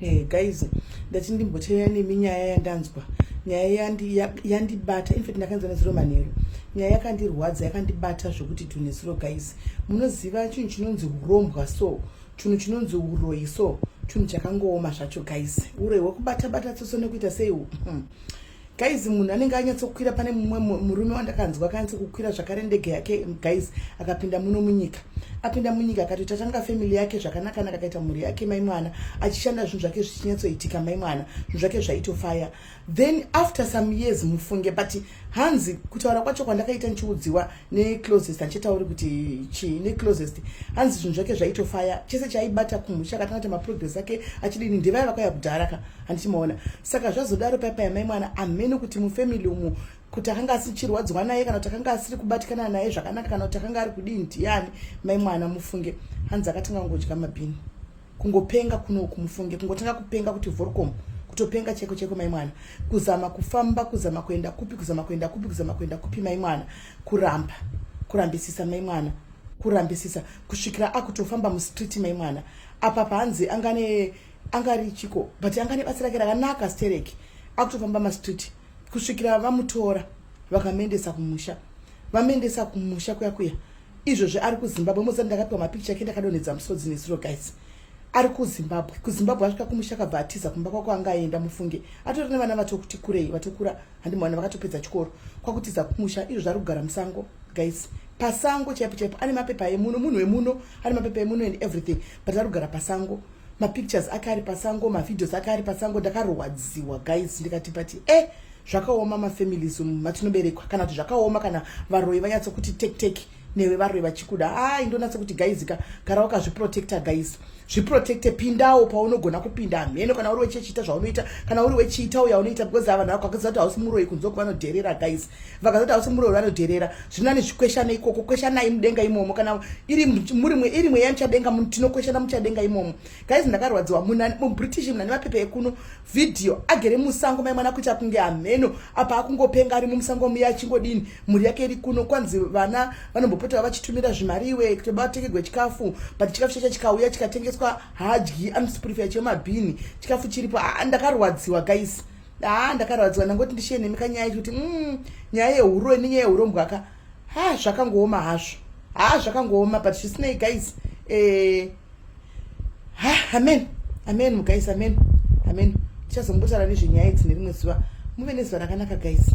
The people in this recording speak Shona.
Hey, eh, guys ndati ndimboteera nemi nyaya yandanzwa nyaya yandibata in fact ndakanzwa nezuro manheru nyaya yakandirwadza yakandibata zvekuti tunesuro guys munoziva chinhu chinonzi urombwa so chinhu chinonzi uroyi so chinhu chakangooma zvacho guys uroyi hwekubata bata tsoso nekuita sei hmm. guys munhu anenge anyatsokwira pane mumwe murume wandakanzwa akanyatsokukwira zvakare ndege yake guys akapinda muno munyika apinda munyika akatoita tanga family yake zvakanakanaka akaita mhuri yake mai mwana achishanda zvinhu zvake zvichinyatsoitika mai mwana zvinhu zvake zvaitofaya then after some years mufunge but hanzi kutaura kwacho kwandakaita ndichiudziwa neclosest achitauri kuti chii neclosest hanzi zvinhu zvake zvaitofaya chese chaibata kumusha akatanga kuti maprogress ake achidini ndevaya vakauya kudhara ka handiti maona saka zvazodaro paipa yamai mwana amheno kuti mufamily umu kuti akanga asichirwadziwa naye kana kuti akanga asiri kubatikana naye zvakanaka kana kuti akanga ari kudii ndiyani mai mwana mufunge hanzi akatanga kungodya mabhini kungopenga kunoku mufunge kungotanga kupenga kuti vorcom kutopenga cheko cheko mai mwana kuzama kufamba kuzama kuenda kupi kuzama kuenda kupi kuzama kuenda kupi mai mwana kuramba kurambisisa mai mwana kurambisisa kusvikira akutofamba mustreet mai mwana apa paanzi angane angari chiko but angane basa rake rakanaka stereki akutofamba mastreet kusvikira vamutora vakamuendesa kumusha vamuendesa kumusha kuya kuya izvozvi ari kuzimbabwe mozati ndakapiwa mapikicha ake ndakadonhedza musodzi nezuro guys ari kuzimbabwe kuzimbabwe asvika kumusha akabva atiza kumba kwako anga aenda mufunge atori nevana vatokuti kurei vatokura handimwana vakatopedza chikoro kwakutiza kumusha izvo zvari kugara musango guys pasango chaipo chaipo ane mapepa emuno munhu wemuno ane mapepa emuno and everything but ari kugara pasango mapictures ake ari pasango mavideos ake ari pasango ndakarwadziwa guys ndikati pati e eh, zvakaoma mafamilies umu matinoberekwa kana kuti zvakaoma kana varoyi vanyatso kuti tektek newe varoyi vachikuda ai ndonatso kuti guys ka gara wakazviprotecta guys zviprotecte pindawo paunogona kupinda hameno kana uri wechechiita zvaunoita kana uri wechiita uya unoita because avanhu vako vakaziva kuti hausi muroyi kunze kuva vanodherera guys vakaziva kuti hausi muroyi vanodherera zvino ane zvikweshana ikoko kweshanai mudenga imomo kana iri murimwe iri mweya muchadenga tinokweshana muchadenga imomo guys ndakarwadziwa mubritish munani mapepe ekuno Video agere musango mai mwana kuita kunge hameno apa akungopenga ari mumusango muya achingodini mhuri yake iri kuno kwanzi vana vanombopota vachitumira zvimari iwe kuti batekegwe chikafu but chikafu chacho chikauya chikatengeswa hadyi anosipurifira chemabhini chikafu chiripo ah, ndakarwadziwa guys ah, ndakarwadziwa ndangoti ndishiye nemi kanyaya ichi kuti mm, nyaya yehuroi nenyaya yehurombwa ka ha zvakangooma hazvo ha zvakangooma but zvisinei guys eh, ha amen amen guys amen amen tichazombotaura nezvenyaya idzi nerimwe zuva muve nezuva rakanaka guys